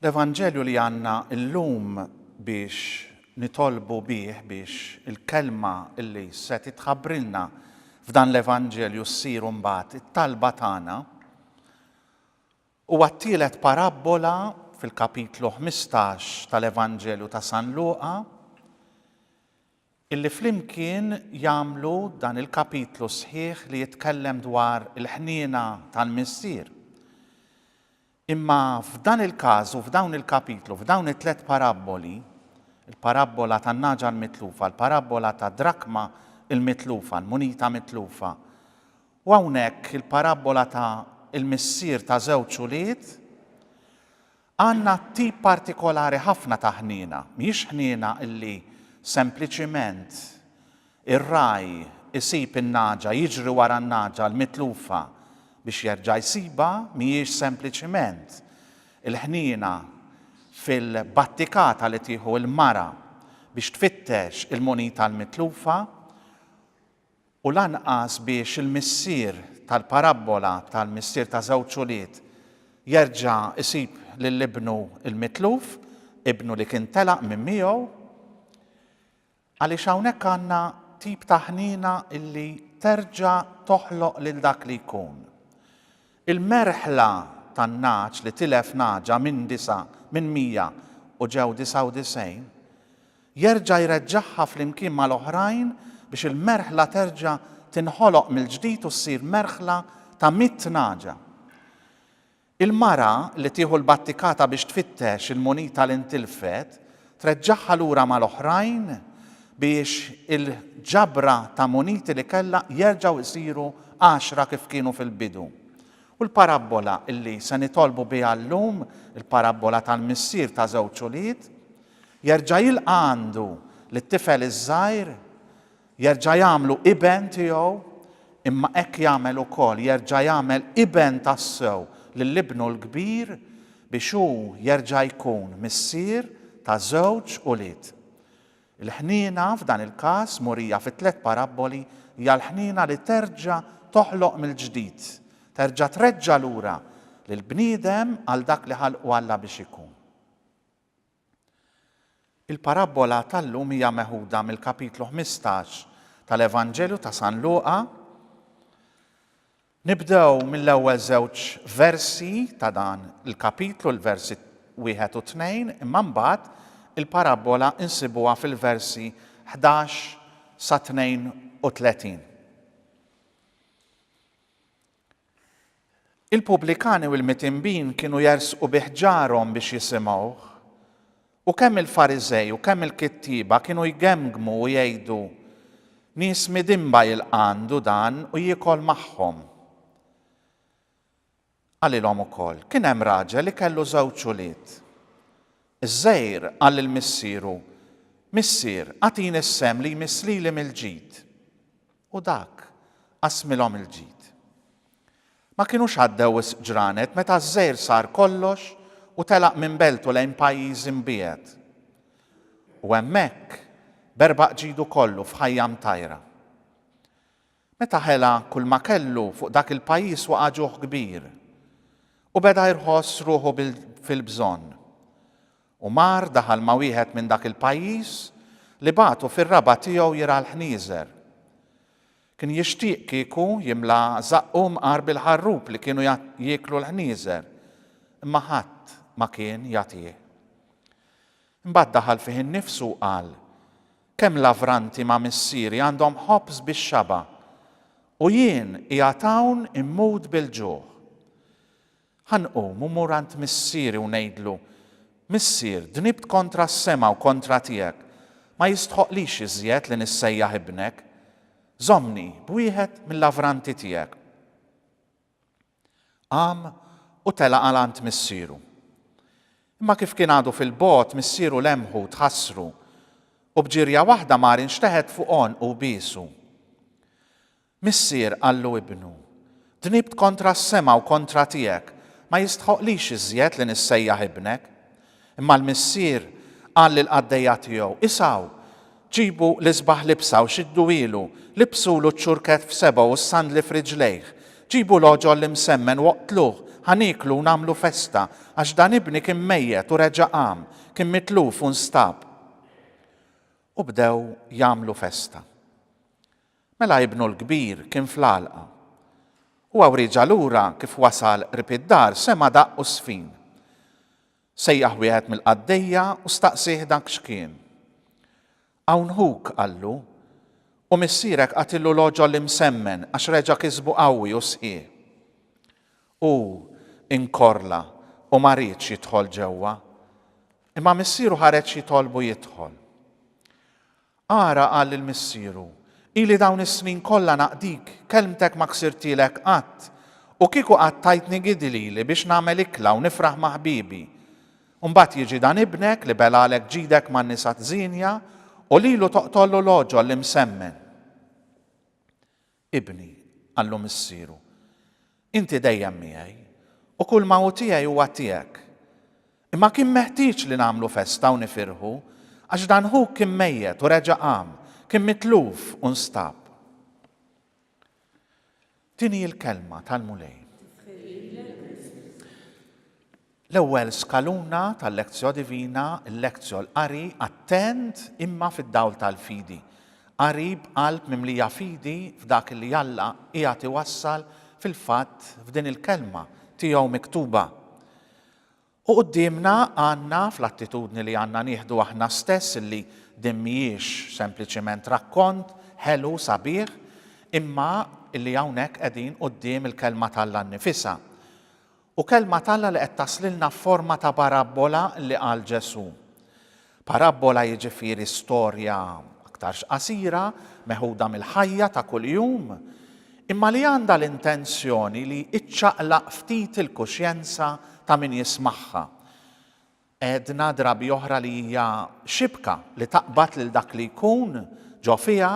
L-Evanġelju li għandna llum biex nitolbu bih biex il-kelma li se titħabbrilna f'dan l-Evanġelju ssir mbagħad it-talba tagħna huwa t-tielet parabbola fil-kapitlu 15 tal-Evanġelju ta' San Luqa Illi flimkien jagħmlu dan il-kapitlu sħiħ li jitkellem dwar il-ħniena tal-Missier. Imma f'dan il-każ u f'dawn il-kapitlu, f'dawn it-tliet parabboli, il-parabbola tan-nagħġa l-mitlufa, il-parabbola tad-drakma l-mitlufa, l-munita mitlufa, u hawnhekk il-parabbola ta' il-missier ta' żewġ ulied, Għandna tip partikolari ħafna ta' ħniena. Mhijiex ħniena li sempliċiment ir-ragħaj isib in-nagħġa, jiġri wara n-nagħġa l-mitlufa biex jerġa' jsibha, mhijiex sempliċiment il-ħniena fil-battikata li tieħu l-mara biex tfittex il-munita l-mitlufa. u lanqas biex il-missier tal-parabbola tal-missier ta' żewġ ulied jerġa' jsib lil ibnu l-mitluf, ibnu li kien telaq minn miegħu, għaliex hawnhekk għandna tip ta' ħniena li terġa' toħloq lil dak li jkun. Il-merħla tan-nagħaġ li tilef nagħġa minn disa' minn mija u ġew disa' u disgħin, Jerġa' jreġġagħha flimkien mal-oħrajn biex il-merħla terġa' tinħoloq mill-ġdid u ssir merħla ta' mitt nagħġa. Il-mara li tieħu l-battikata biex tfittex il-munita li ntilfet treġġagħha lura mal-oħrajn biex il-ġabra ta' muniti li kellha jerġgħu jsiru għaxra kif kienu fil-bidu. U l-parabbola li se nitolbu biha llum, il-parabbola tal-missier ta' żewġ ulied, Jerġa' jilqa' għandu lit-tifel iż-żgħir, jerġa' jagħmlu iben tiegħu, imma hekk jagħmel ukoll, jerġa' jagħmel iben tassew lil ibnu l-kbir biex hu jerġa' jkun missier ta' żewġ ulied. Il-ħniena f'dan il-każ murija fit-tliet parabboli hija l-ħniena li terġa' toħloq mill-ġdid, terġa' treġġa' lura lill-bniedem għal dak li ħalqu Alla biex ikun. Il-parabbola tal-lum hija meħuda mill-kapitlu ħmistax tal-Evanġelju ta' San Luqa. Nibdew mill-ewwel żewġ versi ta' dan il-kapitlu, l-versi wieħed u tnejn, imma mbagħad il-parabbola insibuha fil-versi 11 sa 32. Il-pubblikani u l-mitinbin kienu jersqu bih ġarhom biex jisimgħuh. U kemm il-Fariżej u kemm il-kittieba kienu jgemmgmu u jgħidu, Nies midinba jilqa' għandu dan u jiekol magħhom. Qalilhom ukoll, Kien hemm raġel li kellu żewġ ulied. Iż-żgħir qal lil missieru, Missier, agħtini s-sehem li jmiss lili mill-ġid. U dak, qasmilhom il-ġid. Ma kinux għaddew wisq ġranet meta ż-żgħir sar kollox u telaq minn beltu lejn pajjiż imbiegħed. U hemmhekk, b'erbaq ġidu kollu f'ħajja mtajra. Meta ħela kulma kellu, fuq dak il-pajjiż waqa' ġuħ kbir, u beda jrħoss ruħu fil-bżonn. U mar daħal ma' wieħed minn dak il-pajjiż li bagħtu fir-raba' tiegħu jirgħa l-ħnieżer. Kien jixtieq kieku jimla żaqqu mqar bil-ħarrub li kienu jieklu l-ħnieżer, imma ħadd ma kien jagħtih. Imbagħad daħal fih innifsu u qal, Kemm lavranti ma' missieri għandhom ħobż bix-xaba', u jien qiegħed hawn immut bil-ġuħ! Ħa nqum u mmur għand missieri u ngħidlu, Missier, dnibt kontra s-sema u kontra tiegħek, ma jistħoqqlix iżjed li nissejjaħ ibnek. Żommni b'wieħed mil-lavranti tiegħek. Qam u tela' għal għand missieru. Imma kif kien għadu fil-bogħod, missieru lemħu u tħassru, u b'ġirja waħda mar inxteħet fuq għonqu u biesu. Missier qallu ibnu, Dnibt kontra s-sema u kontra tiegħek, ma jistħoqqlix iżjed li nissejjaħ ibnek. Imma l-missier qal lill-qaddejja tiegħu, 'Isgħu, ġibu l-isbaħ libsa u xidduhielu, libsulu ċ-ċurkett f'sebgħu u s-sandli f'riġlejh. Ġibu l-għoġol l-imsemmen u oqtluh, ħa nieklu u nagħmlu festa, għax dan ibni kien mejjet u reġa' qam, kien mitluf u nstab. U bdew jagħmlu festa. Mela ibnu l-kbir kien fl-għalqa. Huwa wriġ allura kif wasal qrib id-dar sema' daqq u żfin. Sejjaħ wieħed mill-qaddejja u staqsieh dak x'kien. Hawn ħuk, qallu, u missierek qatilu l-għoġol imsemmen għax reġa' kisbu qawwi u sħiħ. Hu inkorla u ma riedx jidħol ġewwa. Imma missieru ħareġ jitolbu jidħol. Ara qal lil missieru, Ili dawn is-snin kollha naqdik, kelmtek ma ksirtielek qatt, u kieku qatt tajtni gidi lili biex nagħmel ikla u nifraħ ma' ħbiebi. Imbagħad jiġi dan ibnek li belgħalek ġidek man-nisa t-żienja u lilu toqtollu l-għoġol li msemmen. Ibni, qallu missieru, inti dejjem miegħi, u kull ma hu tiegħi huwa tiegħek. Imma kien meħtieġ li nagħmlu festa u nifirħu, għax dan ħuk kien mejjet u reġa' qam, kien mitluf u nstab. Din hi l-kelma tal-Mulej. L-ewwel skaluna tal-lectio divina, il-lectio, l-qari, attent, imma fid-dawl tal-fidi. Qari b'qalb mimlija fidi f'dak li Alla qiegħed iwassal fil-fatt f'din il-Kelma Tiegħu miktuba. U quddiemna għandna, fl-attitudni li għandna nieħdu aħna stess illi din mhijiex sempliċiment rakkont ħelu sabiħ, imma illi hawnhekk qegħdin quddiem il-Kelma t'Alla nnifisha. U Kelma t'Alla li qed taslilna f'forma ta' barabbola li qal Ġesù. Parabbola jiġifieri storja aktarx qasira, meħuda mill-ħajja ta' kuljum, imma li għandha l-intenzjoni li iċċaqlaq ftit il-kuxjenza ta' min jismagħha. Għedna drabi oħra li hija xibka li taqbad lil dak li jkun ġo fiha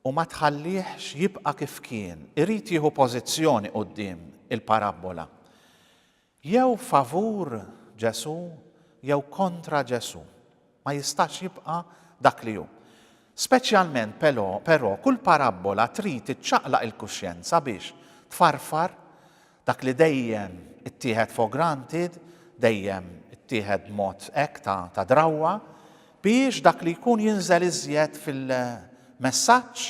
u ma tħallihx jibqa' kif kien, irid jieħu pożizzjoni quddiem il-parabbola. Jew favur Ġesù jew kontra Ġesù. Ma jistax jibqa' dak li hu. Speċjalment pelò, però, kull parabbola trid iċċaqlaq il-kuxjenza biex tfarfar Dak li dejjem ittieħed for granted, dejjem ittieħed b'mod hekk ta' ta' drawwa, biex dak li jkun jinżel iżjed fil-messaġġ,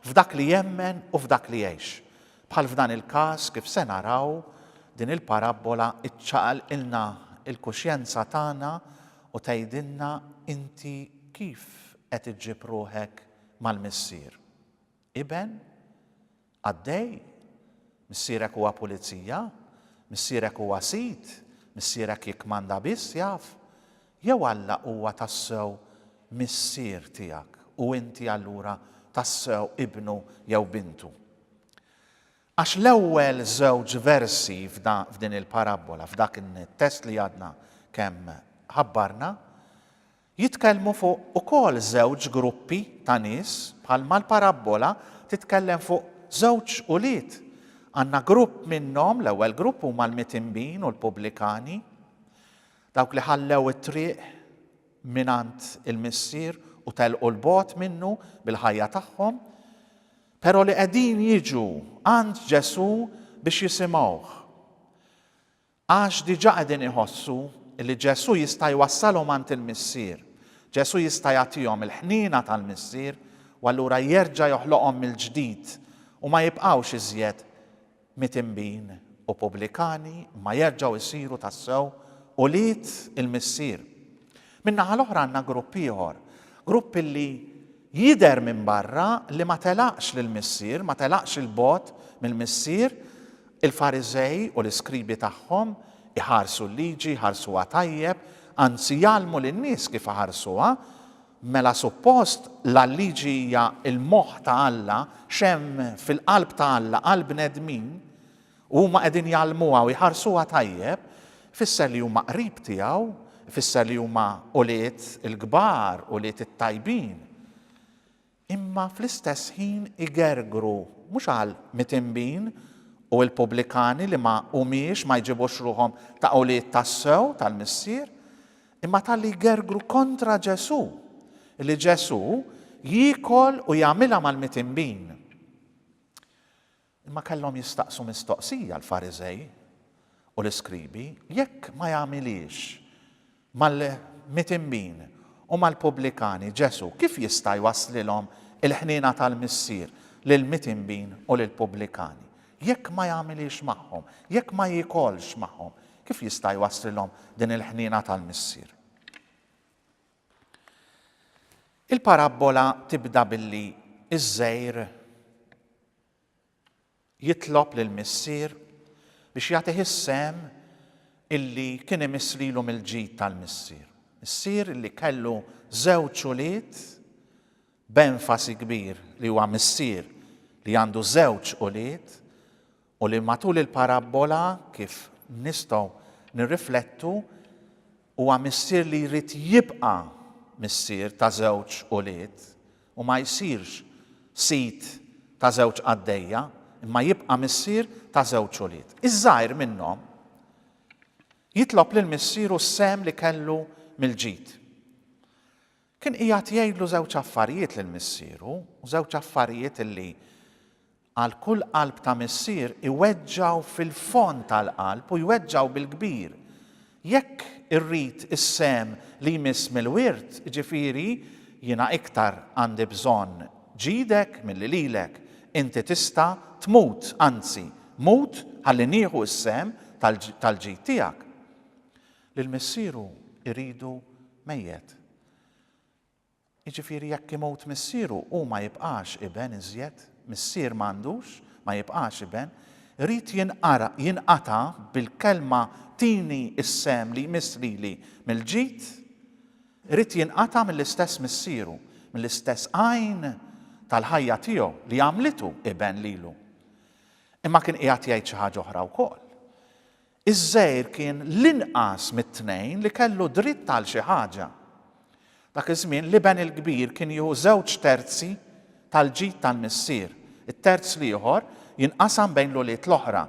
f'dak li jemmen u f'dak li jgħix. Bħal f'dan il-każ kif se naraw, din il-parabbola iċċaqalqilna l-kuxjenza tagħna u tgħidilna inti kif qed iġġib ruħek mal-Missier. Iben? Qaddej? Missierek huwa pulizija? Missierek huwa sid? Missierek jikkmanda biss, jaf? Jew Alla huwa tassew Missier tiegħek u inti allura tassew ibnu jew bintu? Għax l-ewwel żewġ versi f'din il-parabbola, f'dak it-test li għadna kemm ħabbarna, Jitkellmu fuq ukoll żewġ gruppi ta' nies bħalma l-parabbola titkellem fuq żewġ ulied. Għandna grupp minnhom, l-ewwel grupp huma l-mitinbin u l-pubblikani, dawk li ħallew it-triq mingħand il-Missier u telqu 'l bogħod minnu bil-ħajja tagħhom, però li qegħdin jiġu għand Ġesù biex jisimgħuh. Għax diġà qegħdin iħossu li Ġesù jista' jwassalhom għand il-Missier. Ġesù jista' jagħtihom il-ħniena tal-Missier u allura jerġa' joħloqhom mill-ġdid u ma jibqgħux iżjed mitinbin u pubblikani imma jerġgħu jsiru tassew ulied il-Missier. Min-naħa l-oħra għandna grupp ieħor, grupp li Jidher minn barra li ma telaqx lill-Missier, ma telaqx 'il bogħod mill-Missier, il-Fariżej u l-iskribi tagħhom iħarsu l-Liġi, jħarsuha tajjeb, anzi jgħallmu lin-nies kif iħarsuha, mela suppost la l-Liġi hija l-moħħ ta' Alla, x'hemm fil-qalb ta' Alla għall-bnedmin, U huma qegħdin jgħallmuha u jħarsuha tajjeb, ifisser li huma qrib tiegħu, ifisser li huma ulied il-kbar, ulied it-tajbin. Imma fl-istess ħin igergru, mhux għal mitinbin u l-pubblikani li ma humiex, ma jġibux ruħhom ta' ulied tassew tal-Missier, imma talli jgergru kontra Ġesù, li Ġesù jiekol u jagħmilha mal-mitinbin. Imma kellhom jistaqsu mistoqsija l-Fariżej u l-iskribi, Jekk ma jagħmilhiex mal-mitinbin u mal-pubblikani, Ġesù kif jista' jwasslilhom il-ħniena tal-Missier, lill-mitinbin u lill-pubblikani? Jekk ma jagħmilhiex magħhom, jekk ma jiekolx magħhom, kif jista' jwasslilhom din il-ħniena tal-Missier? Il-parabbola tibda billi ż-żgħir Jitlob lill-Missier biex jagħtih is-sehem illi kien imiss lilu mill-ġid tal-Missier. Missier illi kellu żewġ ulied, b'enfasi kbir li huwa missier li għandu żewġ ulied u li matul il-parabbola kif nistgħu nirriflettu Huwa missier li jrid jibqa' missier ta' żewġ ulied u ma jsirx sid ta' żewġ qaddejja, imma jibqa' missier ta' żewġ ulied. Iż-żgħir minnhom jitlob lil missieru s-sehem li kellu mill-ġid. Kien qiegħed jgħidlu żewġ affarijiet lil missieru u żewġ affarijiet li Għal kull qalb ta' missier iweġġgħu fil-fond tal-qalb u jweġġgħu bil-kbir. Jekk irrid is-sehem li jmiss mill-wirt, jiġifieri, jiena iktar għandi bżonn ġidek milli lilek, inti tista' tmut, anzi, mut ħalli nieħu s-sehem tal-ġid tiegħek. Lil missieru jridu mejjet. Jiġifieri jekk imut missieru hu ma jibqax iben iżjed, missier ma għandux, ma jibqax iben, irid jinqara, jinqata' bil-kelma tini s-sehem li jmiss lili mill-ġid, irid jinqata' mill-istess missieru, mill-istess għajn tal-ħajja tiegħu li għamlitu iben lilu. Imma kien qiegħed jgħid xi ħaġa oħra wkoll. Iż-żgħir kien l-inqas mit-tnejn li kellu dritt għal xi ħaġa. Dak iż-żmien, l-iben il-kbir kien jieħu żewġ terzi tal-ġid tal-missier, it-terz l-ieħor jinqasam bejn l-ulied l-oħra,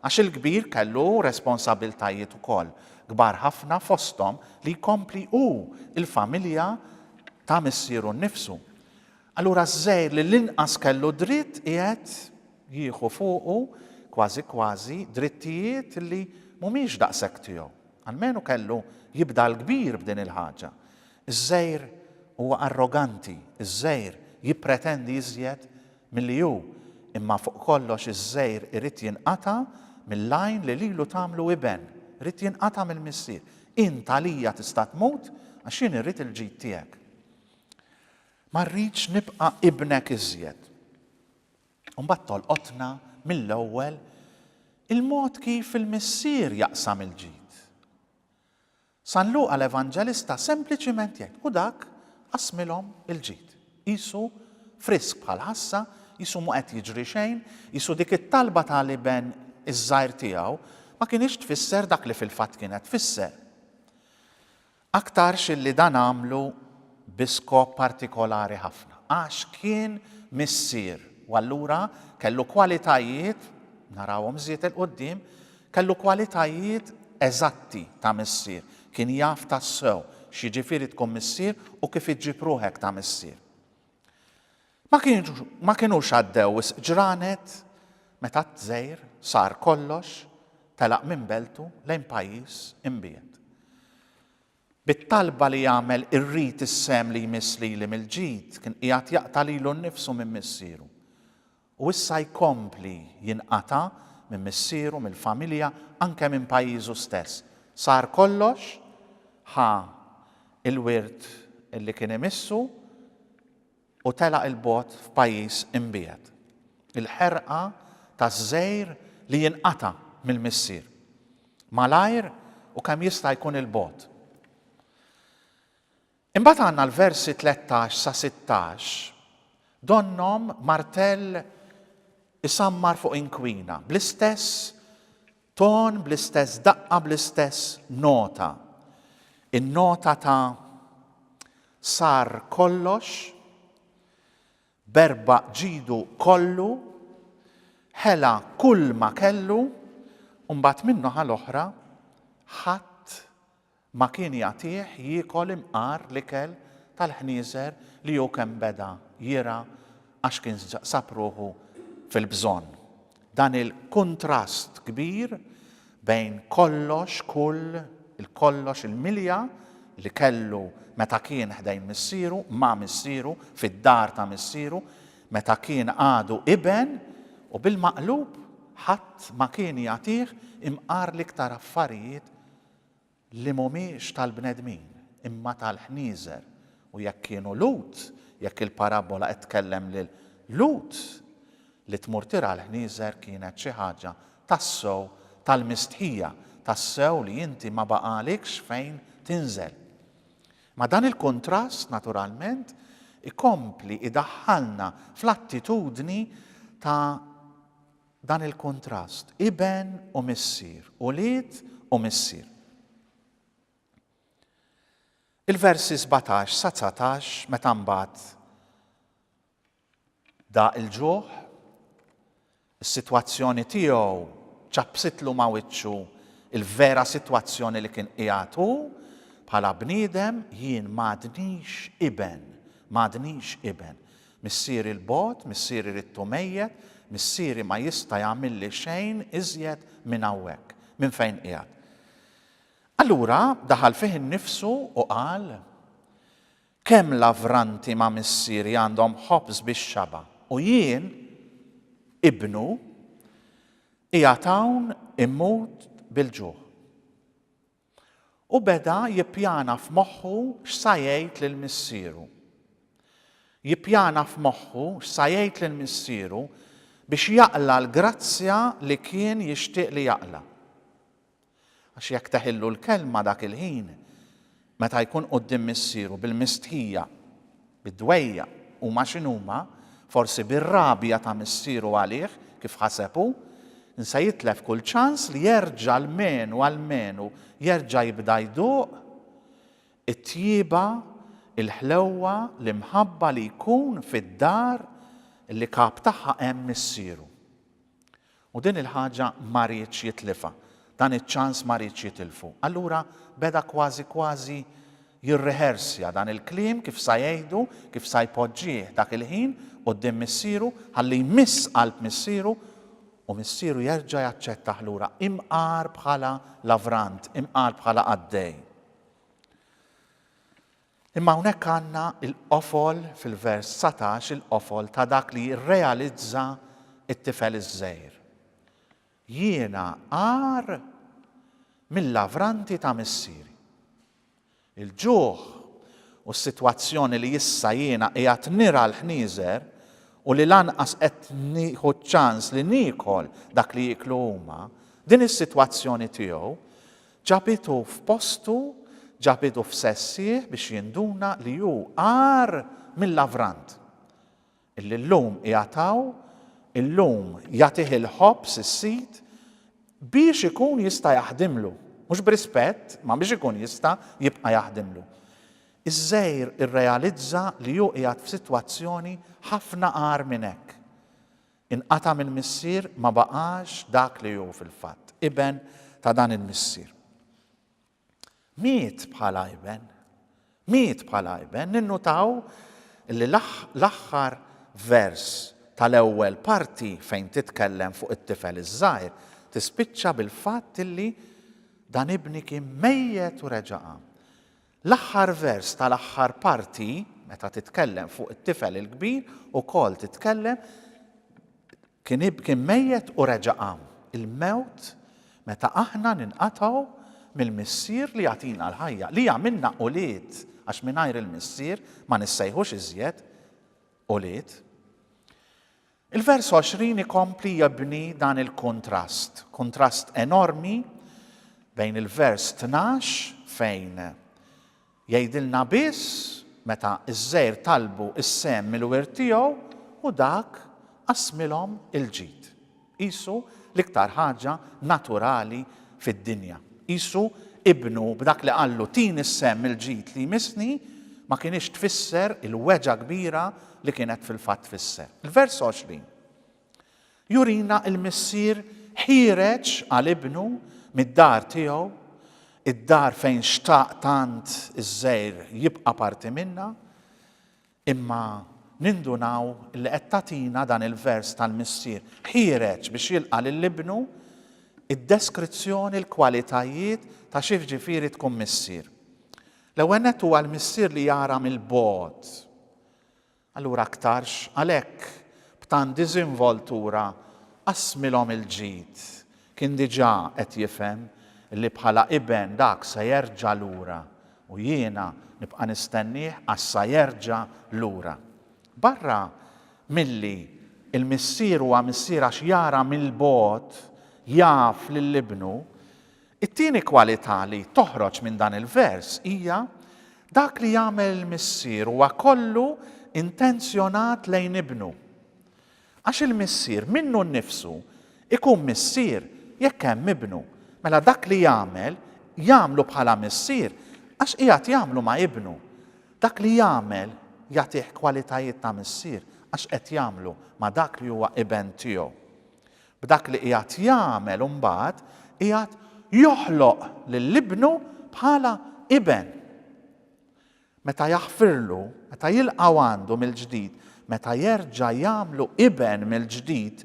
għax il-kbir kellu responsabbiltajiet ukoll kbar ħafna fosthom li jkompli hu l-familja ta' missieru nnifsu. Allura ż-żgħir li l-inqas kellu dritt qiegħed jieħu fuqu, kważi kważi, drittijiet li mhumiex daqshekk tiegħu. Almenu kellu jibda l-kbir b'din il-ħaġa. Iż-żgħir huwa arroganti, iż-żgħir jippretendi iżjed milli hu, imma fuq kollox iż-żgħir irid jinqata' mill-għajn li lilu tagħmlu iben, irid jinqata' mill-missier. Int għalija tista' tmut għax jien irrid il-ġid tiegħek. Ma rridx nibqa' ibnek iżjed. U mbagħad tolqotna mill-ewwel il-mod kif il-Missier jaqsam il-ġid. San Luqa l-Evanġelista sempliċiment jgħid, U dak qassmilhom il-ġid. Qisu frisk bħall-ħassa, qisu mhu qed jiġri xejn, qisu dik it-talba ta' l-iben iż-żgħir tiegħu ma kinitx tfisser dak li fil-fatt kienet tfisser. Aktarx illi dan għamlu bi skop partikolari ħafna, għax kien missier u allura kellu kwalitajiet, narawhom żjed 'il quddiem, kellu kwalitajiet eżatti ta' missier, kien jaf tassew x'jiġifieri tkun missier u kif iġġib ruħek ta' missier. Ma kinux għaddew wisq ġranet meta t-tżegħir sar kollox telaq minn beltu lejn pajjiż imbiegħed. Bit-talba li jagħmel irrid is-sehem li jmiss lili mill-ġid kien qiegħed jaqta' lilu nnifsu minn missieru. U issa jkompli jinqata' minn missieru, mill-familja, anke minn pajjiżu stess. Sar kollox, ħa l-wirt li kien imissu, u telaq 'il bogħod f'pajjiż imbiegħed. Il-ħerqa taż-żgħir li jinqata' mill-missier. Malajr u kemm jista' jkun 'il bogħod. Imbagħad għandna l-versi 13 sa 16 donnhom martell isammar fuq inkwina bl-istess Ton bl-istess daqqa bl-istess nota. In-nota ta' sar kollox, berba' ġidu kollu, ħela kull ma kellu, u mbagħad min-noħa l-oħra ħadd Ma kien jagħtih jiekol imqar l-ikel tal-ħnieżer li hu kemm beda jirgħa għax kien sab ruħu fil-bżonn. Dan il-kuntrast kbir bejn kollox, kull, il-kollox, il-milja li kellu meta kien ħdejn missieru, ma' missieru, fid-dar ta' missieru, meta kien għadu iben, u bil-maqlub, ħadd ma kien jagħtih imqar l-iktar affarijiet li mhumiex tal-bnedmin, imma tal-ħnieżer, u jekk kienu Lhud, jekk il-parabbola qed tkellem lil Lhud, li tmur tirgħa l-ħnieżer kienet xi ħaġa tassew tal-mistħija, tassew li inti ma baqagħlikx fejn tinżel. Ma dan il-kuntrast, naturalment, ikompli idaħħalna fl-attitudni ta' Dan il-kuntrast, iben u missier, ulied u missier. Il-versi sbatax sa dsatax meta mbagħad daq il-ġuħ, is-sitwazzjoni tiegħu ċappsitlu ma' wiċċu l-vera sitwazzjoni li kien qiegħed hu bħala bniedem, jien m'għadnix iben, m'għadnix iben. Missieri l-bogħod, missieri ridtu mejjet, missieri ma jista' jagħmilli xejn iżjed minn hawnhekk, minn fejn qiegħed. Allura daħal fih innifsu u qal, Kemm lavranti ma' missieri għandhom ħobż bix-xaba', u jien, ibnu, qiegħed hawn immut bil-ġuħ. u beda jippjana f'moħħu x'sa jgħid lil missieru. Jippjana f'moħħu x'sa jgħid lil missieru biex jaqla' l-grazzja li kien jixtieq li jaqla'. Għax jekk teħillu l-kelma dak il-ħin, meta jkun quddiem missieru bil-mistħija, bid-dwejjaq, huma x'inhuma, forsi bir-rabja ta' missieru għalih, kif ħaseb hu, nsa jitlef kull ċans li jerġa' almenu, almenu jerġa' jibda jduq it-tjieba, il-ħlewwa, l-imħabba li jkun fid-dar li kap tagħha hemm missieru. U din il-ħaġa ma riedx jitlifha. Dan iċ-ċans ma riedx jitilfu. Allura beda kważi kważi jirrehersja dan il-kliem kif sa jgħidu, kif sa jpoġġih dak il-ħin quddiem missieru ħalli jmiss qalb missieru u missieru jerġa' jaċċettah lura imqar bħala lavrant, imqar bħala qaddej. Imma hawnhekk għandna l-qofol, fil-vers dsatax, il-qofol ta' dak li jirrealizza t-tifel iż-żgħir. Jiena agħar mil-lavranti ta' missieri. Il-ġuħ u s-sitwazzjoni li issa jiena qiegħed nirgħa l-ħnieżer u li lanqas qed nieħu ċ-ċans li niekol dak li jieklu huma, din is-sitwazzjoni tiegħu Ġabitu f'postu, ġabidu f'sessih biex jinduna li hu agħar mill-lavrant, illi llum qiegħed hawn, illum jagħtih il-ħobż is-sid biex ikun jista' jaħdimlu, mhux b'rispett, imma biex ikun jista' jibqa' jaħdimlu. Iż-żgħir irrealizza li hu qiegħed f'sitwazzjoni ħafna agħar minn hekk. Inqata' minn missier ma baqax dak li hu fil-fatt, iben ta' dan il-missier. Miet bħala iben. Miet bħala iben. Ninnutaw li l-aħħar vers tal-ewwel parti fejn titkellem fuq it-tifel iż-żgħir tispiċċa bil-fatt li dan ibni kien mejjet u reġa' qam. L-aħħar vers tal-aħħar parti, meta titkellem fuq it-tifel il-kbir, ukoll titkellem kien kien mejjet u reġa' qam. Il-mewt meta aħna ninqatgħu mill-Missier li jagħtina l-ħajja, li jagħmilna ulied, għax mingħajr il-Missier ma nissejħux iżjed ulied. Il-vers 20 ikompli jibni dan il-kuntrast, kuntrast enormi bejn il-vers 12 fejn jgħidilna biss meta ż-żgħir talbu s-sehem mill-wirt tiegħu u dak qassmilhom il-ġid. Qisu l-iktar ħaġa naturali fid-dinja. Qisu ibnu b'dak li qallu tini s-sehem mill-ġid li jmissni ma kinitx tfisser il-weġgħa kbira li kienet fil-fatt tfisser. Il-vers 20 jurina l-missier ħiereġ għal ibnu mid-dar tiegħu, id-dar fejn xtaq tant iż-żgħir jibqa' parti minnha, Imma nindunaw li qed tagħtina dan il-vers tal-Missier ħiereġ biex jilqa' lil Ibnu, id-deskrizzjoni, l-kwalitajiet ta' x'jiġifieri tkun missier. L-ewwel nett huwa l-missier li jara mill-bogħod. Allura aktarx għalhekk b'tant diżinvoltura qasmilhom il-ġid Kien diġà qed jifhem li bħala iben dak se jerġa' lura u jiena nibqa' nistennieh għax sa jerġa' lura. Barra milli l-missier huwa missier għax jara mill-bogħod, jaf lil ibnu, it-tieni kwalità li toħroġ minn dan il-vers hija, dak li jagħmel il-missier huwa kollu intenzjonat lejn ibnu. Għax il-missier minnu nnifsu jkun missier jekk hemm ibnu, mela dak li jagħmel, jagħmlu bħala missier għax qiegħed jagħmlu ma' ibnu. Dak li jagħmel jagħtih kwalitajiet ta' missier għax qed jagħmlu ma' dak li huwa iben tiegħu. B'dak li qiegħed jagħmel imbagħad qiegħed joħloq lil ibnu bħala iben. meta jaħfirlu, meta jilqgħu għandu mill-ġdid, meta jerġa' jagħmlu iben mill-ġdid,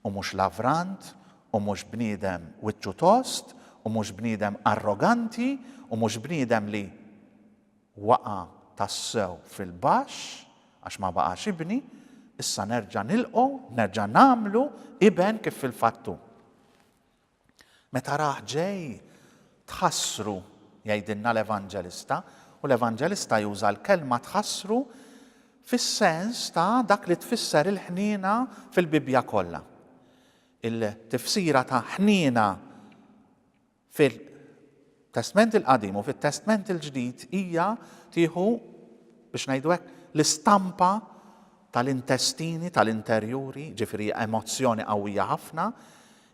u mhux lavrant, u mhux bniedem wiċċu tost, u mhux bniedem arroganti, u mhux bniedem li waqa' tassew fil-baxx għax ma baqax ibni, issa nerġa' nilqgħu, nerġa' nagħmlu iben kif fil-fatt hu. Meta rah ġej, tħassru, jgħidilna l-Evanġelista, u l-Evanġelista juża l-kelma tħassru fis-sens ta' dak li tfisser il-ħniena fil-Bibbja kollha. Il-tifsira ta' ħniena fil-Testment il-Qadim u fit-Testment il-Ġdid hija tieħu biex ngħidu hekk l-istampa tal-intestini, tal-interjuri, ġifieri emozzjoni qawwija ħafna,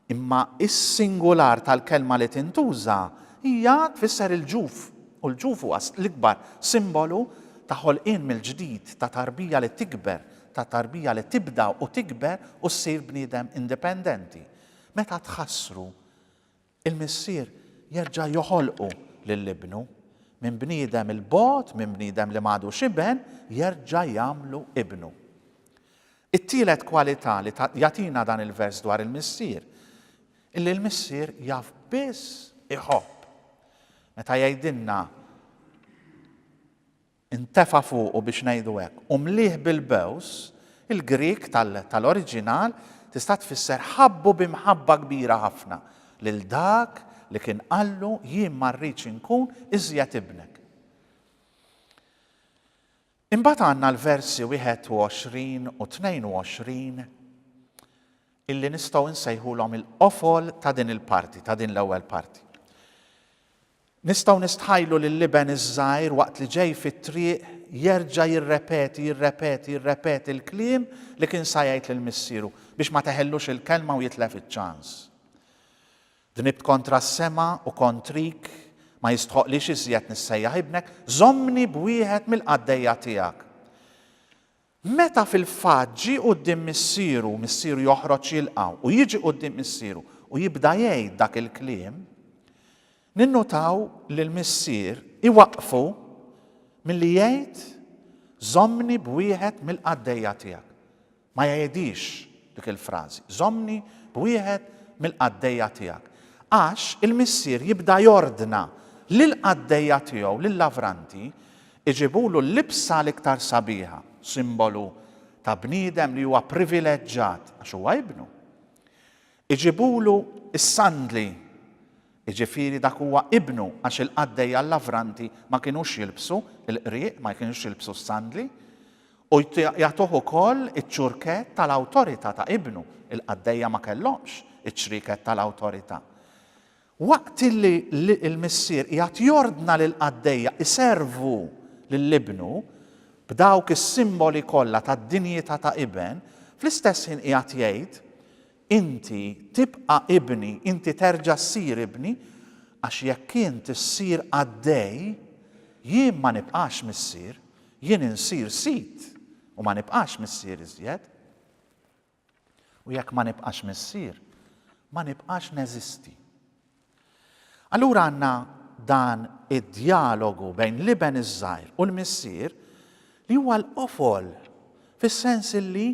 Imma s-singular tal-kelma li tintuża hija tfisser il-ġuf, u l-ġuf huwa l-ikbar simbolu ta' ħolqien mill-ġdid, ta' tarbija li tikber, ta' tarbija li tibda u tikber u ssir bniedem indipendenti. Meta tħassru, il-Missier jerġa' joħolqu lil Ibnu. Minn bniedem 'il bogħod, minn bniedem li m'għadux iben, jerġa' jagħmlu ibnu. It-tielet kwalità li jagħtina dan il-vers dwar il-Missier, illi l-Missier jaf biss iħobb. Meta jgħidilna intefa' fuqu biex ngħidu hekk u mlieh bil-bews, il-Grieg tal-oriġinal tista' tfisser ħabbu bi mħabba kbira ħafna lil dak li kien qallu jien ma rridx inkun iżjed ibnek. Imbagħad għandna l-versi 21 u 22 illi nistgħu nsejħulhom il-qofol ta' din il-parti, ta' din l-ewwel parti. Nistgħu nistħajlu lil iben iż-żgħir waqt li ġej fit-triq jerġa' jirrepeti, jirrepeti, jirrepeti l-kliem li kien sa jgħid lil missieru biex ma teħellux il-kelma u jitlef iċ-ċans. Dnibt kontra s-sema u kontrik, ma jistħoqqlix iżjed nissejjaħ ibnek, żommni b'wieħed mill-qaddejja tiegħek. Meta fil-fatt ġie quddiem missieru, missieru joħroġ jilqgħu, u jiġi quddiem missieru u jibda jgħid dak il-kliem, ninnutaw li l-missier iwaqqfu milli jgħid, żommni b'wieħed mill-qaddejja tiegħek. Ma jegħidhiex dik il-frażi, żommni b'wieħed mill-qaddejja tiegħek. Għax il-missier jibda jordna lill-qaddejja tiegħu, lil-lavranti, iġibulu l-libsa l-iktar sabiħa, simbolu ta' bniedem li huwa privileġġat għax huwa ibnu. Iġibulu s-sandli Jiġifieri dak huwa Ibnu, għax il-qaddejja l-lavranti ma kinux jilbsu l-qrieq, ma jkinux jilbsu s-sandli, u jagħtuh ukoll iċ-ċurkett tal-awtorità ta' Ibnu, il-qaddejja ma kellhomx iċ-ċrieket tal-awtorità. Waqt li l-missier qiegħed jordna lill-qaddejja iservu lil Ibnu b'dawk is-simboli kollha tad-dinjità ta' iben, fl-istess ħin qiegħed jgħid, Inti tibqa' ibni, inti terġa' ssir ibni, għax jekk int issir qaddej, jien ma nibqax missier, jien insir sid u ma nibqax missier iżjed. U jekk ma nibqax missier, ma nibqax neżisti. Allura għandna dan id-djalogu bejn l-iben iż-żgħir u l-missier li huwa l-qofol fis-sens illi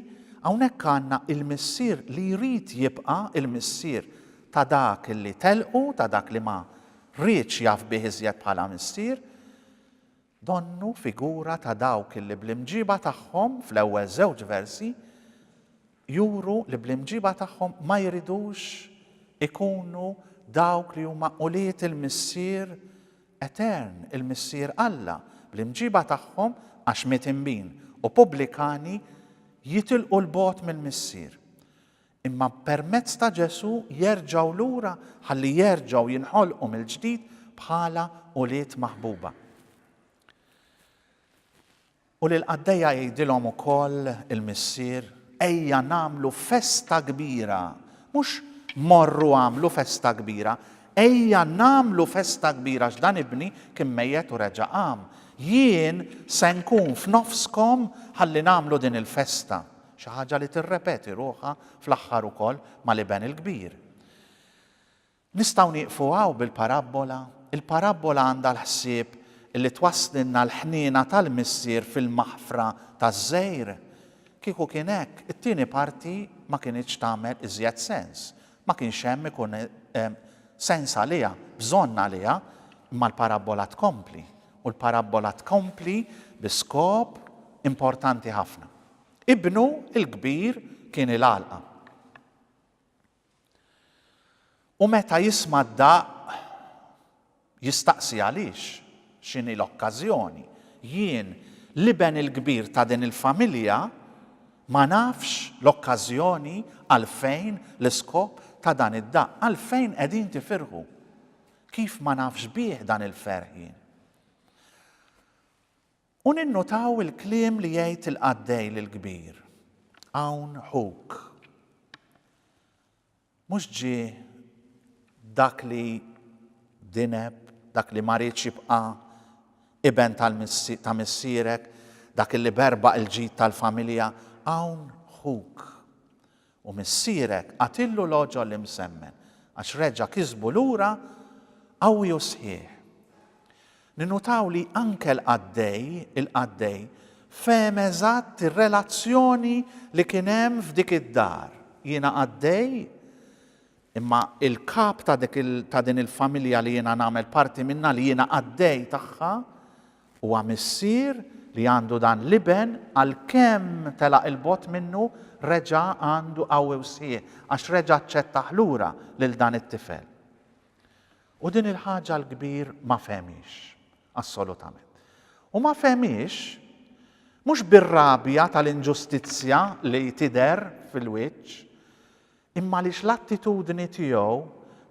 hawnhekk għandna l-missier li jrid jibqa' l-missier ta' dak li tellqu, ta' dak li ma riedx jaf bih iżjed bħala missier, Donnu figura ta' dawk li bl-imġiba tagħhom fl-ewwel żewġ versi juru li bl-imġiba tagħhom ma jridux ikunu dawk li huma ulied il-Missier etern, il-Missier Alla. Bl-imġiba tagħhom, għax mitinbin u pubblikani jitilqu 'l bogħod mill-Missier. imma permezz ta' Ġesù jerġgħu lura ħalli jerġgħu jinħolqu mill-ġdid bħala ulied maħbuba. U lil qaddejja jgħidilhom ukoll il-missier, ejja nagħmlu festa kbira, mhux morru għamlu festa kbira, ejja nagħmlu festa kbira x'dan ibni kien mejjet u reġa' qam. Jien se nkun f'nofskom ħalli nagħmlu din il-festa. Xi ħaġa li tirrepeti ruħha fl-aħħar ukoll mal-Iben il-Kbir. Nistgħu nieqfu hawn bil-parabbola? Il-parabbola għandha l-ħsieb li twasslilna l-ħniena tal-Missier fil-maħfra taż-żgħir? Kieku kien hekk, it-tieni parti ma kinitx tagħmel iżjed sens. Ma kienx hemm ikun hemm sens għaliha, bżonn għaliha, imma l-parabbola tkompli. U l-parabbola tkompli bi skop importanti ħafna. Ibnu l-kbir kien il-għalqa. U meta jisma' d-daqq, jistaqsi għaliex, x'inhi l-okkażjoni. Jien, l-iben il-kbir ta' din il-familja, ma nafx l-okkażjoni għalfejn l-iskop ta' dan id-daqq, għalfejn qegħdin tifirħu. Kif ma nafx bih dan il-ferħ jien? U ninnutaw il-kliem li jgħid il-qaddej lill-kbir, Hawn ħuk. Mhux ġie dak li dineb, dak li ma riedx jibqa' iben ta' missierek, dak li berbaq il-ġid tal-familja, hawn ħuk. U missierek għatillu l-għoġol imsemmen, għax reġa' kisbu lura qawwi u sħiħ. Ninnutaw li anke l-qaddej, il-qaddej, fehem eżatt ir-relazzjoni li kien hemm f'dik id-dar. Jiena qaddej, imma il-kap ta' din il-familja li jiena nagħmel parti minnha, li jiena qaddej tagħha, Huwa missier li għandu dan l-iben għalkemm telaq 'il bogħod minnu reġa' għandu qawwi u sħiħ għax reġa' aċċettah lura lil dan it-tifel. U din il-ħaġa l-kbir ma fehmhiex assolutament. U ma fehmhiex mhux bir-rabja tal-inġustizzja li tidher fil-wiċċ, Imma għaliex l-attitudni tiegħu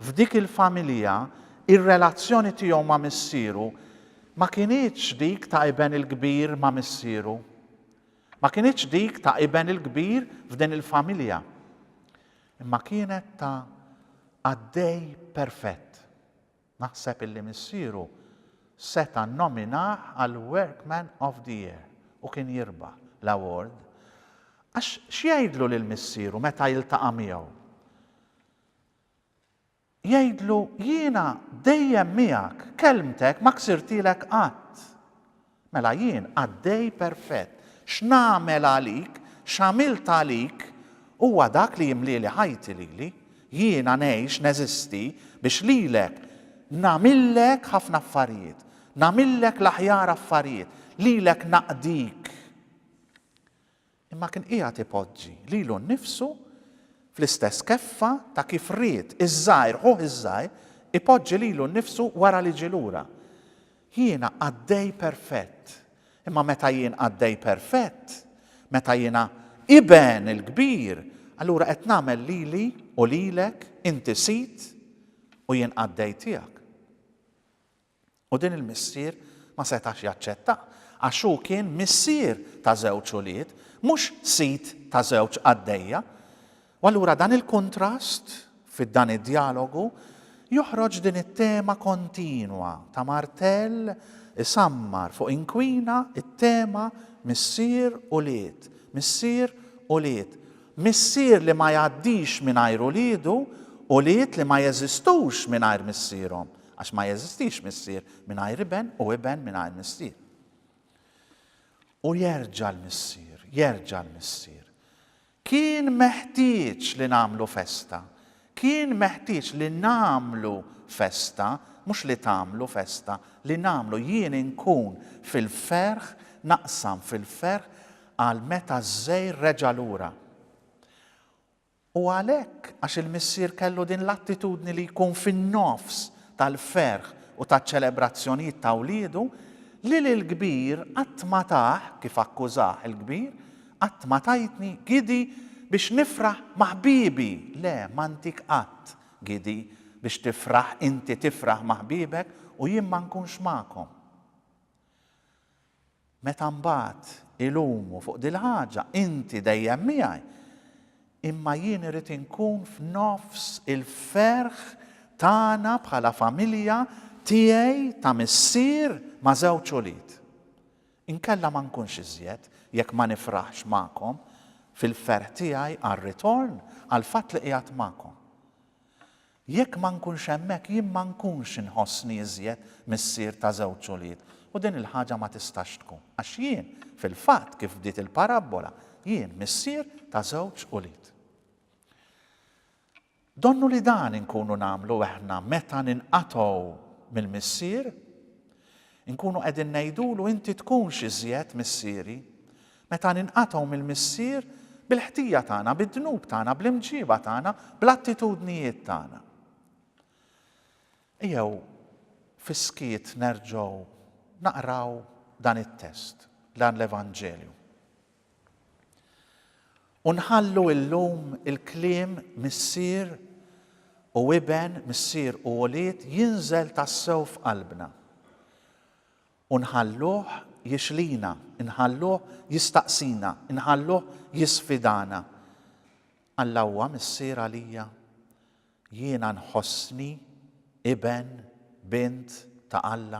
f'dik il-familja, ir-relazzjoni tiegħu ma' missieru, ma kinitx dik ta' iben il-kbir ma' missieru? Ma kinitx dik ta' iben il-kbir f'din il-familja? Imma kienet ta' qaddej perfett. Naħseb illi missieru seta' nnominah għal Workman of the Year u kien jirbaħ l-award għax x'jgħidlu lil missieru meta jiltaqa' miegħu? Jgħidlu jiena dejjem miegħek, kelmtek ma ksirtilek qatt. Mela jien, qaddej perfett, x'nagħmel għalik, x'għamilt għalik, huwa dak li jimlieli ħajti lili, jiena ngħix, neżisti, biex lilek nagħmillek ħafna affarijiet, nagħmillek l-aħjar affarijiet, lilek naqdik. imma kien qiegħed ipoġġi lilu nnifsu fl-istess keffa ta' kif ried iż-żgħir ħuh iż-żgħir ipoġġi lilu nnifsu wara li ġie lura. Jiena qaddej perfett, imma meta jien qaddej perfett, meta jiena Iben il-Kbir, allura qed nagħmel lili u lilek, inti sid u jien qaddej tiegħek. U din il-missier ma setax jaċċettah, għax hu kien missier ta' żewġ ulied, mhux sid ta' żewġ qaddejja. U allura dan il-kuntrast fi dan id-djalogu joħroġ din it-tema kontinwa ta' martell isammar fuq inkwina, it-tema missier ulied, missier ulied, missier li ma jgħaddix mingħajr uliedu, ulied li ma jeżistux mingħajr missierhom. Għax ma jeżistix missier mingħajr iben u iben mingħajr missier. U jerġa' l-missier, jerġa' l-missier. Kien meħtieġ li nagħmlu festa. Kien meħtieġ li nagħmlu festa, mhux li tagħmlu festa, li nagħmlu jien inkun fil-ferħ, naqsam fil-ferħ għal meta ż-żejr reġa' lura. U għalhekk, għax il-missier kellu din l-attitudni li jkun fin-nofs tal-ferħ u taċ-ċelebrazzjonijiet ta' wliedu, lil il-kbir qatt ma tah, kif akkużah il-kbir, qatt ma tajtni, Gidi, biex nifraħ ma' ħbiebi, le, ma ntik qatt, Gidi, biex tifraħ inti tifraħ ma' ħbiebek u jien ma nkunx magħkom. Meta mbagħad ilumu fuq dil-ħaġa, inti dejjem miegħi, imma jien irrid inkun f'nofs il-ferħ tagħna bħala familja tiegħi ta' missier ma' żewġ ulied. Inkella ma nkunx iżjed jekk ma nifraħx magħkom fil-ferħ tiegħi għar-ritorn, għall-fatt li qiegħed magħkom. Jekk ma nkunx hemmhekk, jien ma nkunx inħossni iżjed missier ta' żewġ ulied, u din il-ħaġa ma tistax tkun. Għax jien, fil-fatt, kif bdiet il-parabbola, jien missier ta' żewġ ulied. Donnu li dan inkunu nagħmlu aħna meta ninqatgħu mill-Missier? Inkunu qegħdin ngħidulu inti tkunx iżjed missieri. Meta ninqatgħu mill-Missier bil-ħtija tagħna, bid-dnub tagħna, bl-imġieba tagħna, bl-attitudnijiet tagħna. Ejjew fis-skiet nerġgħu naqraw dan it-test, dan l-Evanġelju. U nħallu illum il-kliem Missier u Iben, Missier u Ulied jinżel tassew f'qalbna. U nħalluh jixlina, inħalluh jistaqsina, inħalluh jisfidana, Alla huwa Missier għalija? Jiena nħossni iben, bint ta' Alla?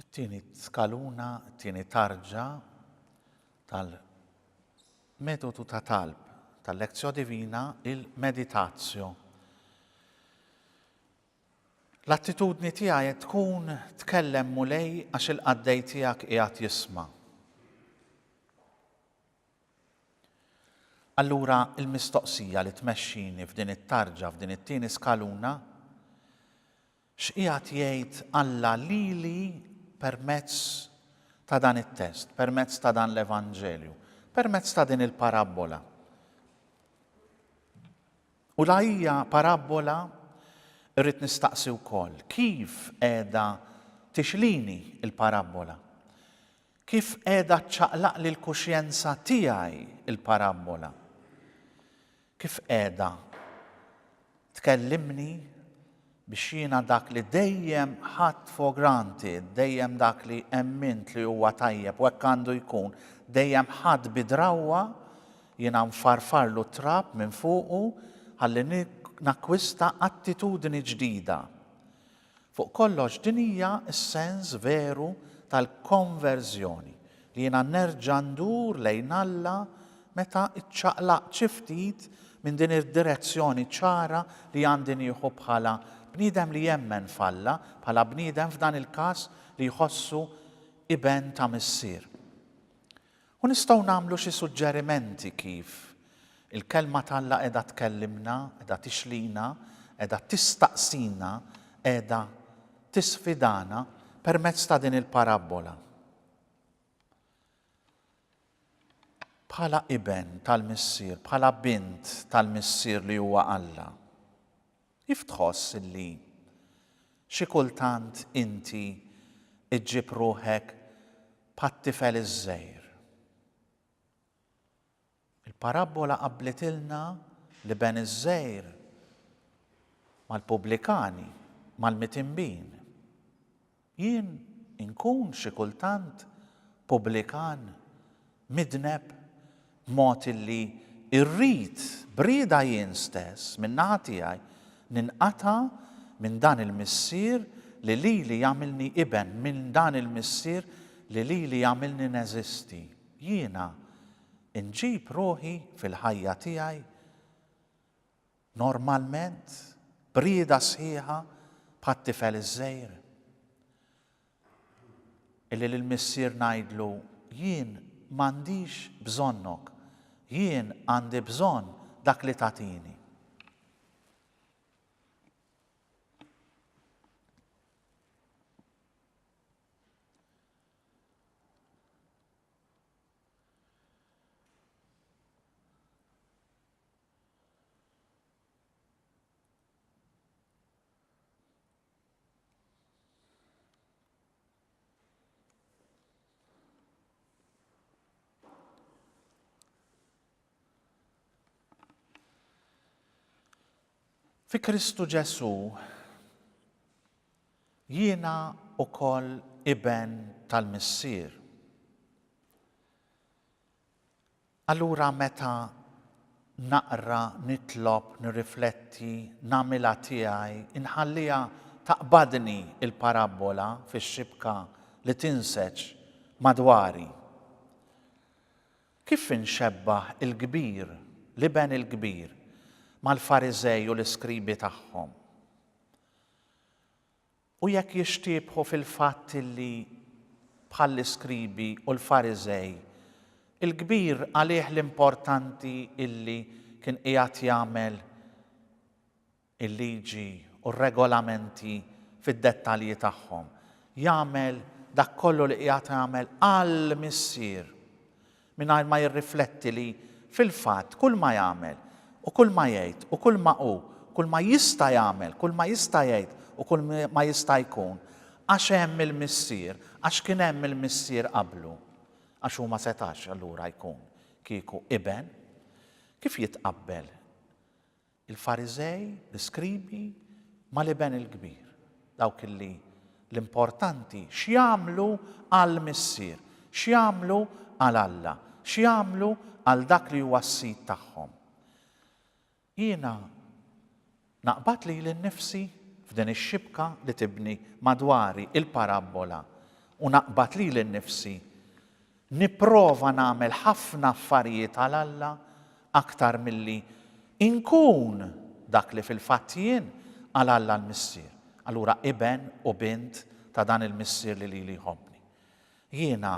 It-tieni skaluna, it-tieni tarġa tal-metodu ta' talb tal-Lectio Divina, il-Meditatio. L-attitudni tiegħi qed tkun tkellem Mulej għax il-qaddej tiegħek qiegħed jisma'. Allura il-mistoqsija li tmexxini f'din it-tarġa, f'din it-tieni skaluna, X'qiegħed jgħid Alla lili permezz ta' dan it-test, permezz ta' dan l-Evanġelju, permezz ta' din il-parabbola? U la hija parabbola rrid nistaqsi wkoll kif qiegħda tixlini l-parabbola? Kif qiegħda ċċaqlaqli l-kuxjenza tiegħi l-parabbola? Kif qiegħda tkellimni biex jiena dak li dejjem ħadt for granted, dejjem dak li emmint li huwa tajjeb u hekk għandu jkun, dejjem ħadd bi drawwa, jiena nfarfarlu t-trab minn fuqu ħalli nakkwista attitudni ġdida. Fuq kollox, din hija s-sens veru tal-konverżjoni, li jiena nerġa' ndur lejn Alla meta ċċaqlaqt xi ftit minn din id-direzzjoni ċara li għandi nieħu bħala bniedem li jemmen f'Alla, bħala bniedem f'dan il-każ li jħossu iben ta' missier. U nistgħu nagħmlu xi suġġerimenti kif il-Kelma t'Alla qiegħda tkellimna, qiegħda tixlina, qiegħda tistaqsina, qiegħda tisfidana permezz ta' din il-parabbola. Bħala iben tal-missier, bħala bint tal-missier li huwa Alla. Kif tħoss li xi kultant inti ġġib ruħek bħat-tifel iż-żgħir? Il-parabbola qabblitilna l-iben iż-żgħir mal-pubblikani, mal-mitinbin. Jien inkun xi kultant pubblikan, midneb, b'mod illi rrid b'rieda jien stess minn naħa tiegħi ninqata' minn dan il-Missier li lili għamilni iben, minn dan il-Missier li lili għamilni neżisti. Jiena nġib ruħi fil-ħajja tiegħi? Normalment, b'rieda sħiħa bħat-tifel iż-żgħir. Illi lill-missier ngħidlu, Jien m'għandix bżonnok, jien għandi bżonn dak li tagħtini. Fi Kristu Ġesu, jiena u koll iben tal-Missir. Allura meta naqra, nitlob, nirrifletti, nagħmilha tiegħi, inħalliha taqbadni l-parabbola fix-xibka li tinseġ madwari. Kif inxebbah il-kbir, l-iben il-kbir, mal-Fariżej u l-iskribi tagħhom? U jekk jixtiebħu fil-fatt illi, bħall-iskribi u l-Fariżej, il-kbir għalih l-importanti illi kien qiegħed jagħmel il-liġi u r-regolamenti fid-dettalji tagħhom, jagħmel dak kollu li qiegħed jagħmel għall-Missier, mingħajr ma jirrifletti li, fil-fatt, kulma jagħmel, u kulma jgħid, u kulma hu, kulma jista' jagħmel, kulma jista' jgħid, u kulma jista' jkun, għax hemm il-Missier, għax kien hemm il-Missier qablu, għax hu ma setax allura jkun kieku Iben. Kif jitqabbel Il-Fariżej, l-iskribi, mal-Iben il-Kbir, dawk illi l-importanti x'jagħmlu għall-Missier, x'jagħmlu għal Alla, x'jagħmlu għal dak li huwa s-Sid tagħhom. Jiena naqbad lili nnifsi f'din ix-xibka li tibni madwari l-parabbola u naqbad lili nnifsi Nipprova nagħmel ħafna affarijiet għal Alla aktar milli nkun dak li fil-fatt jien għal Alla l-Missier, allura iben u bint ta' dan il-Missier li lili jħobbni. Jiena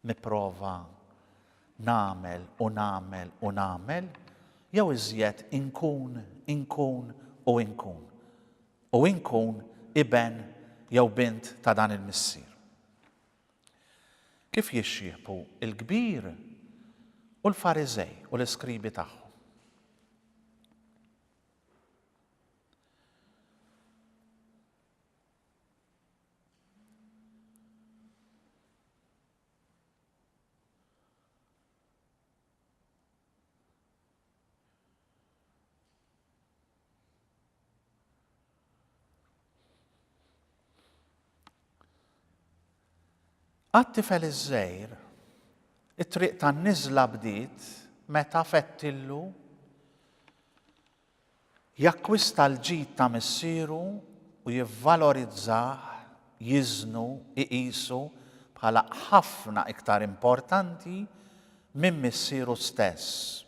nipprova nagħmel u nagħmel u nagħmel jew iżjed inkun, inkun u inkun. U inkun iben jew bint ta' dan il-Missier. Kif jixxiebħu l-kbir u l-Fariżej u l-iskribi tagħhom? Għat-tifel iż-żgħir, it-triq tan-niżla bdiet meta fettillu Jakkwista l-ġid ta' missieru u jivvalorizzah, jiżnu, iqisu bħala ħafna iktar importanti minn missieru stess.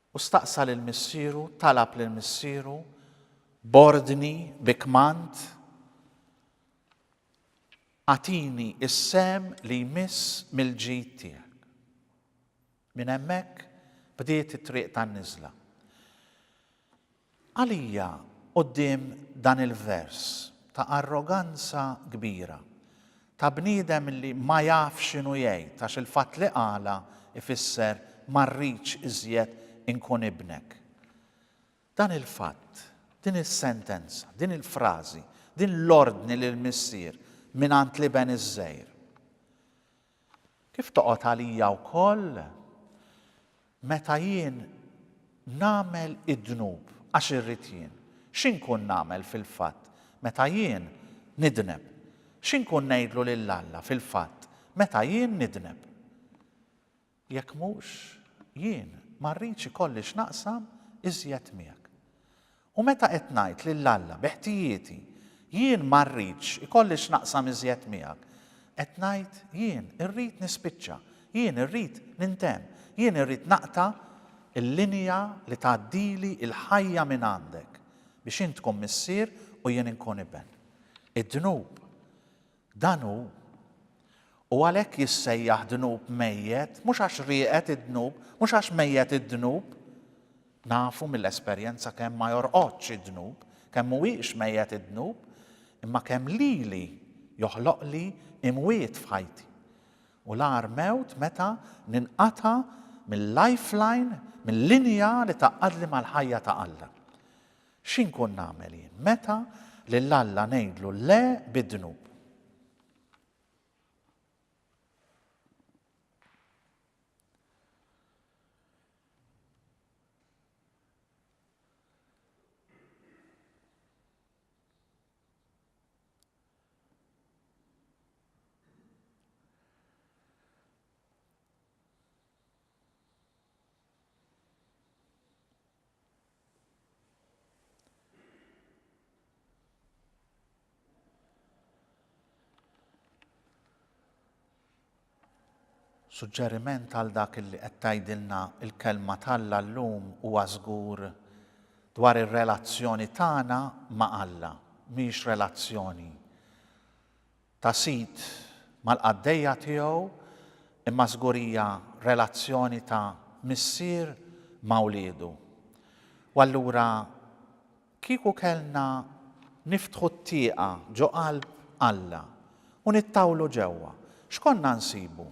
U staqsa lil missieru, talab lil missieru, b'ordni, bi kmand, Agħtini s-sehem li jmiss mill-ġid tiegħek. Minn hemmhekk bdiet it-triq tan-niżla. Għalija quddiem dan il-vers ta' arroganza kbira, ta' bniedem li ma jafx x'inhu jgħid għax il-fatt li qalha jfisser ma rridx iżjed inkun ibnek. Dan il-fatt, din is-sentenza, din il-frażi, din l-ordni lill-Missier mingħand l-Iben iż-żgħir. Kif toqgħod għalija wkoll meta jien nagħmel id-dnub għax irrid jien? X'inkun nagħmel fil-fatt meta jien nidneb? X'inkun ngħidlu lil Alla fil-fatt meta jien nidneb? Jekk mhux jien ma rridx ikolli x'naqsam iżjed miegħek. U meta qed ngħid lil Alla bi ħtijieti, jien ma rridx ikolli x'naqsam iżjed miegħek, qed ngħid jien irrid nispiċċa, jien irrid nintemm, jien irrid naqta' l-linja li tgħaddili l-ħajja mingħandek, biex int tkun Missier u jien inkun iben. Id-dnub Dan hu. U għalhekk jissejjaħ dnub mejjet, mhux għax rieqed id-dnub, mhux għax mejjet id-dnub. Nafu mill-esperjenza kemm ma jorqodx id-dnub, kemm mhuwiex mejjet id-dnub, imma kemm lili joħloqli imwiet f'ħajti. U l-agħar mewt meta ninqata' mil-lifeline, mil-linja li tgħaqqadli mal-ħajja ta' Alla. Xi nkun nagħmel jien meta lil Alla ngħidlu le bid-dnub? Suġġeriment għal dak li qed tgħidilna l-kelma t'Alla llum huwa żgur dwar ir-relazzjoni tagħna ma' Alla, mhix relazzjoni ta' sid mal-qaddejja tiegħu imma żgur hija relazzjoni ta' missier ma' wliedu. U allura kieku kellna niftħu t-tieqa ġo qalb Alla u nittawlu ġewwa, x'konna nsibu?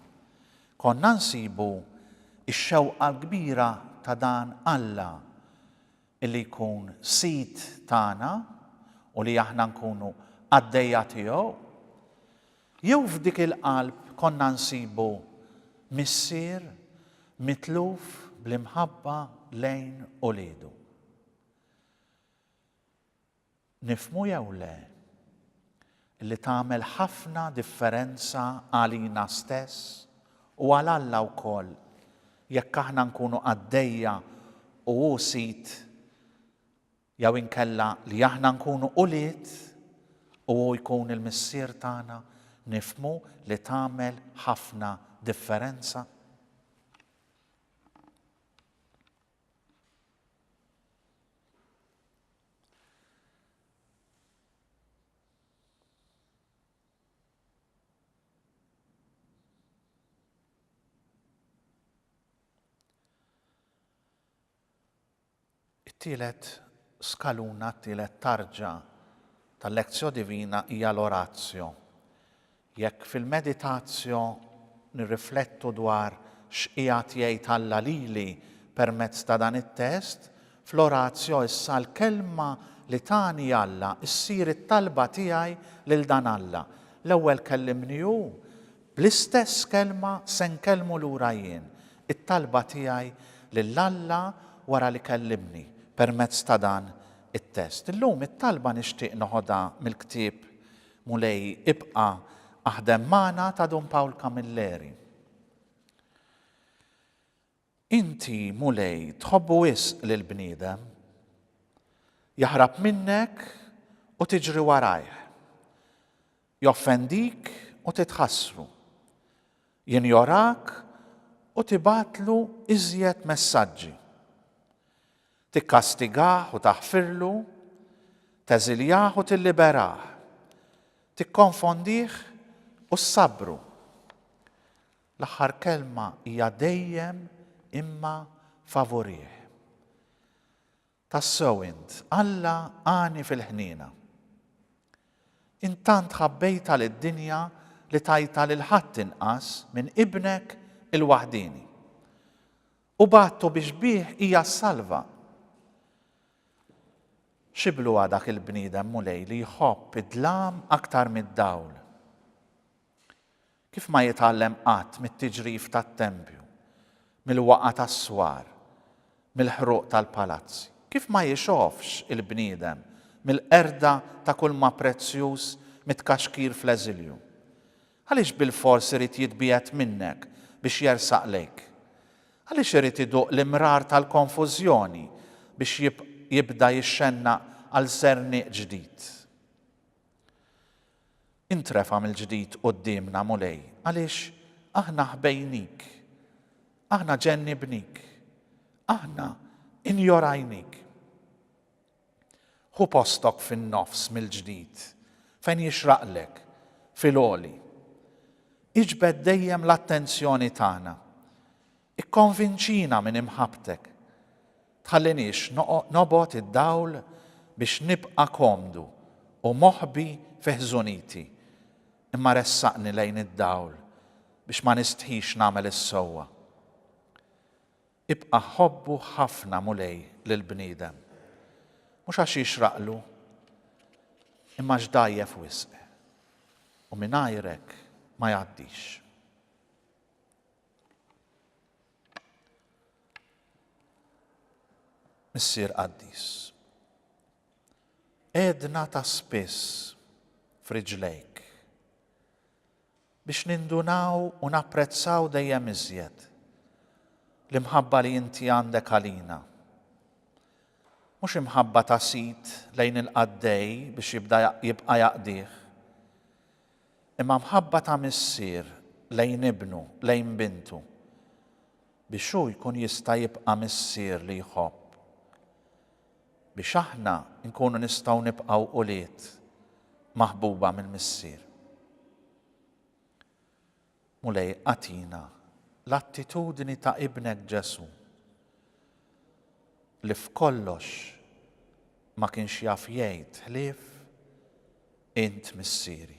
Konna nsibu x-xewqa l-kbira ta' dan Alla li jkun Sid tagħna u li aħna nkunu qaddejja tiegħu? Jew f'dik il-qalb konna nsibu missier mitluf bl-imħabba lejn uliedu? nifhmu jew le, li tagħmel ħafna differenza għalina stess u għal Alla wkoll jekk aħna nkunu qaddejja u hu sid jew inkella li aħna nkunu ulied u hu jkun il-Missier tagħna, nifhmu li tagħmel ħafna differenza? It-tielet skaluna, t-tielet tarġa tal-Lezzjo Divina hija l-Orazio. Jekk fil-meditazjo nirriflettu dwar x'qiegħed jgħid Alla lili permezz ta' dan it-test, fl-oratio issa l-kelma li tani Alla ssir it-talba tiegħi lil dan Alla, l-ewwel kellimni hu, bl-istess kelma se nkellmu lura jien, it-talba tiegħi lil Alla wara li kellimni permezz ta' dan it-test. Illum it-talba nixtieq noħodha mill-ktieb Mulej ibqa aħdem magħna ta Dun Pawl Camilleri. Inti Mulej tħobbu wisq lil bniedem. Jaħrab minnek u tiġri warajh. Joffendik u titħassru. Jinjorak u tibgħatlu iżjed messaġġi. Tikkastigah u taħfirlu, teżiljah u tilliberah, tikkonfondih u ssabbru. L-aħħar kelma hija dejjem imma favurih. Tassew int, Alla għani fil-ħniena. Int tant ħabbejtha lid-dinja li tajtha lil ħadd inqas minn Ibnek il-waħdieni. u bagħtu biex bih hija ssalva. Xi bluha dak il-bniedem Mulej li jħobb id-dlam aktar mid-dawl! Kif ma jitgħallem qatt mit-tiġrif tat-tempju, mill-waqgħa tas-swar, mill-ħruq tal-palazzi? Kif ma jixofx il-bniedem mill-qerda ta' kulma prezzjuż mitkaxkir fl-eżilju? Għaliex bilfors irid jitbiegħed minnek biex jersaq lejk? Għaliex irid iduq l-imrar tal-konfużjoni biex jibda jixxennaq għal sernieq ġdid? Intrefa' mill-ġdid quddiemna, Mulej, għaliex aħna ħbejnik. Aħna ġennibnik. Aħna injorajnik. Ħu postok fin-nofs mill-ġdid, fejn jixraqlek, fil-għoli. Iġbed dejjem l-attenzjoni tagħna. Ikkonvinċina minn imħabbtek. Tħalliniex nobgħod id-dawl biex nibqa' komdu u moħbi fi ħżuniti, imma ressaqni lejn id-dawl biex ma nistħix nagħmel is-sewwa. Ibqa' ħobbu ħafna, Mulej, lill-bniedem, mhux għax jixraqlu, imma għax dgħajjef wisq, u mingħajrek ma jgħaddix. Missier Qaddis, għedna ta' spiss f'riġlejk biex nindunaw u napprezzaw dejjem iżjed l-imħabba li inti għandek għalina. Mhux imħabba ta' sid lejn il-qaddej biex jibda jibqa' jaqdih, imma mħabba ta' missier lejn ibnu, lejn bintu, biex hu jkun jista' jibqa' missier li jħobb. biex aħna nkunu nistgħu nibqgħu ulied maħbuba mill-Missier. Mulej, agħtina l-attitudni ta' Ibnek Ġesù li f'kollox ma kienx jaf jgħid ħlief int missieri.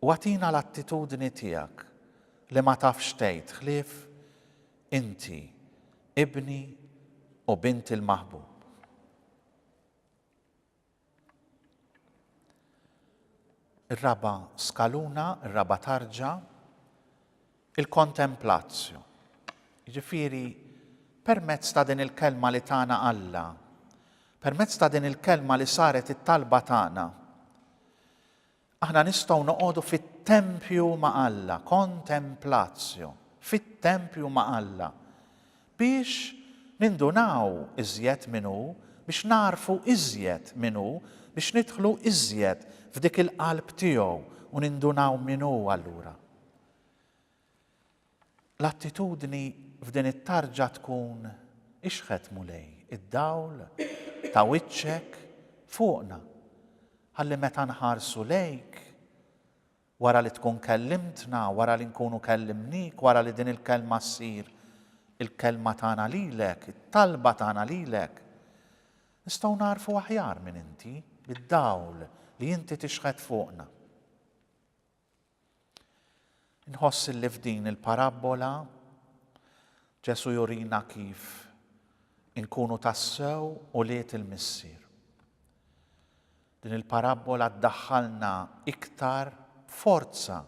U agħtina l-attitudni tiegħek li ma tafx tgħid ħlief Inti Ibni u Bint il-Maħbub. Ir-raba' skaluna, ir-raba' tarġa, il-kontemplazzju. Jiġifieri permezz ta' din il-kelma li tagħna Alla, permezz ta' din il-kelma li saret it-talba tagħna, Aħna nistgħu noqogħdu fit-tempju ma' Alla, kontemplatio, fit-tempju ma' Alla, biex nindunaw iżjed min hu, biex nagħrfu iżjed min hu, biex nidħlu iżjed f'dik il-qalb tiegħu u nindunaw min hu allura. L-attitudni f'din it-tarġa tkun, Ixħet, Mulej, id-dawl ta' wiċċek fuqna, ħalli meta nħarsu lejk, wara li tkun kellimtna, wara li nkunu kellimnik, wara li din il-kelma ssir il-kelma tagħna lilek, it-talba tagħna lilek, nistgħu nagħrfu aħjar min inti, bid-dawl li inti tixħet fuqna. Inħoss li f'din il-parabbola Ġesù jurina kif inkunu tassew ulied il-Missier. Din il-parabbola ddaħħalna iktar b'forza,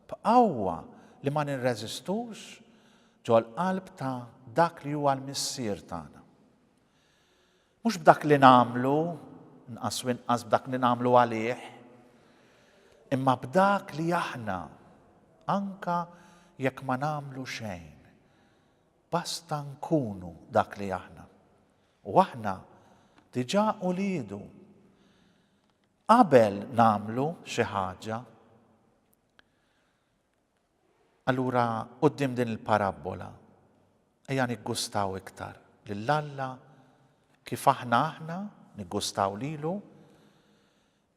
b'qawwa li ma nirreżistux ġol-qalb ta' dak li huwa l-Missier tagħna. Mhux b'dak li nagħmlu, inqas u inqas b'dak li nagħmlu għalih, imma b'dak li aħna, anka jekk ma nagħmlu xejn, basta nkunu dak li aħna. U aħna diġà uliedu. Qabel nagħmlu xi ħaġa, Allura quddiem din il-parabbola, ejja niggustaw iktar lil Alla kif aħna aħna niggustaw lilu,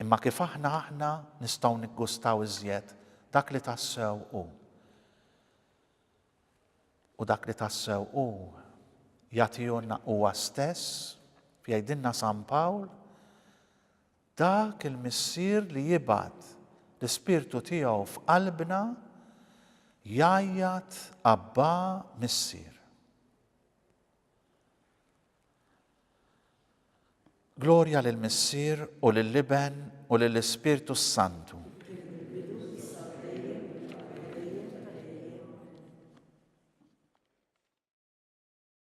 imma kif aħna aħna nistgħu niggustaw iżjed dak li tassew hu. U dak li tassew hu jagħtihulna huwa stess, jgħidilna San Pawl, Dak il-Missier li jibgħat l-Ispirtu tiegħu f'qalbna jgħajjat Abbà Missier. Glorja lill-Missier u lill-Iben u lill-Ispirtu s-Santu.